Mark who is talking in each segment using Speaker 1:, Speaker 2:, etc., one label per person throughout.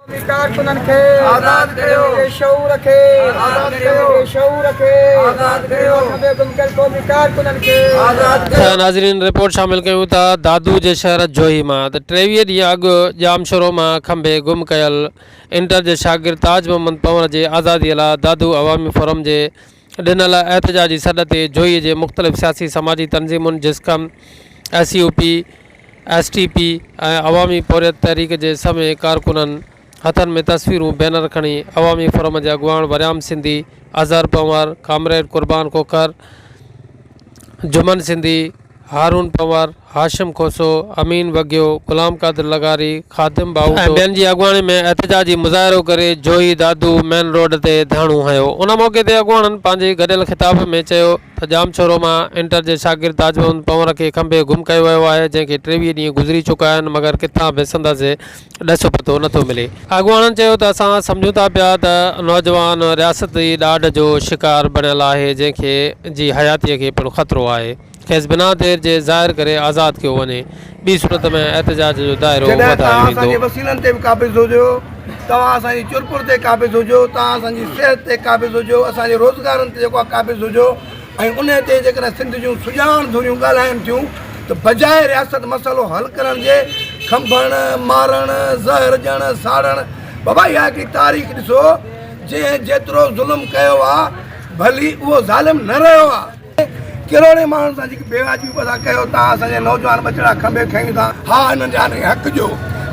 Speaker 1: قومي ڪارڪنن کي آزاد ڪريو. بي شعور کي آزاد ڪريو. بي شعور کي آزاد ڪريو. ملڪ ۾ گم ڪيل قومي ڪارڪنن کي آزاد
Speaker 2: ڪريو. ته ناظرين رپورٽ شامل
Speaker 3: ڪيون ٿا دادو جي شهر جوهي مان ته ٽيويهه ڏينهن اڳ ڄامشورو مان کنڀي گم ڪيل انٽر جي شاگرد تاج محمد پنور جي آزادي لا دادو عوامي فورم جي ڏنل احتجاجي سڏ تي جويي جي مختلف سياسي سماجي تنظيمن JSQM, S U P, S T P ۽ Awami Porhiyat Tehreek جي سوين ڪارڪنن هٿن ۾ تصويرون بينر کڻي عوامي فورم جي اڳواڻ وريام سنڌي، اظهر پنهور، ڪامريڊ قربان کوکر، جمن سنڌي، هارون پنهور، هاشم کوسو، امين وگهيو، غلام قادر لغاري، خادم باهوٽو ۽ ٻين جي اڳواڻي ۾ احتجاجي مظاهرو ڪري جويي دادو مين روڊ تي ڌرڻو هنيو. ان موقعي تي اڳواڻن پنهنجي گڏيل خطاب ۾ چيو ته ڄامشورو مان انٽر جي شاگرد تاج محمد پنهور کي کنڀي گم ڪيو ويو آهي جنهن کي ٽيويهه ڏينهن گذري چڪا آهن مگر ڪٿان به سندس ڏس پتو نه ٿو ملي. اڳواڻن چيو ته اسان سمجهون ٿا پيا ته نوجوان رياستي ڏاڍ جو شڪار بڻيل آهي جنهن کي جي حياتي کي پڻ خطرو آهي کيس بنا دير جي ظاهر ڪري آزاد ڪيو وڃي ٻي صورت ۾ احتجاج جو دائرو وڌايو ويندو. جڏهن توهان اسان جي وسيلن تي به قابض
Speaker 2: هجو توهان اسان جي چرپر تي قابض هجو توهان اسان جي صحت تي قابض هجو اسان جي روزگارن تي جيڪو قابض هجو ۽ انهي تي جيڪڏهن سنڌ جون سڄاڻ ڌريون ڳالهائين ٿيون ته بجاء رياست مسئلو حل ڪرڻ جي کنڀڻ، مارڻ، زهر ڏيڻ، ساڙڻ بابا اها هڪڙي تاريخ ڏسو جنهن جيترو ظلم ڪيو آ ڀلي اهو ظالم نه رهيو آ. ڪروڙين ماڻهن سان جيڪي بي واجبي پسا ڪيو ٿا اسان جا نوجوان ٻچڙا کنڀي کنيون ٿا. ها انهن جا انهي حق ڏيو،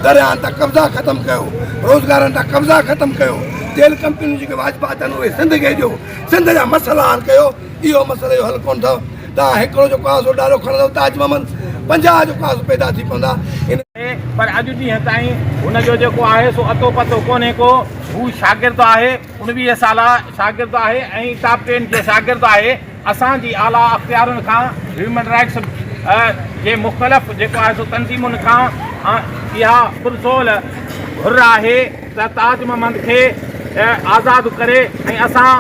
Speaker 2: درياهن تان قبضا ختم ڪيو، روزگارن تان قبضا ختم ڪيو، تيل ڪمپنيون جيڪي واجبات آهن اهي سنڌ کي ڏيو. سنڌ جا مسئلا حل ڪيو اهو مسئلي جو حل ڪونه اٿو توهان هڪڙو جو ڪاسو ڏارو کڻندو تاج محمد پنجاهه جو ڪاسو پيدا ٿي پوندا ان پر
Speaker 4: اڄ ڏينهن تائين هن جو جيڪو آهي سو اتو پتو ڪونهي ڪو هو شاگرد آهي انويهه سالا شاگرد آهي ۽ ٽاپ ٽين جو شاگرد آهي اسان جي اعليٰ اختيارن کان هيومن رائٽس جي مختلف جيڪو آهي سو تنظيمن کان اها پرزول گهر آهي ته تاج محمد کي آزاد ڪري ۽ اسان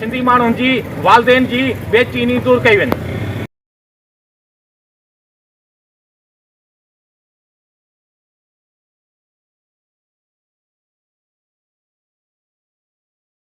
Speaker 4: سنڌي ماڻهن جي والدين جي بي چيني دور ڪئي وڃي.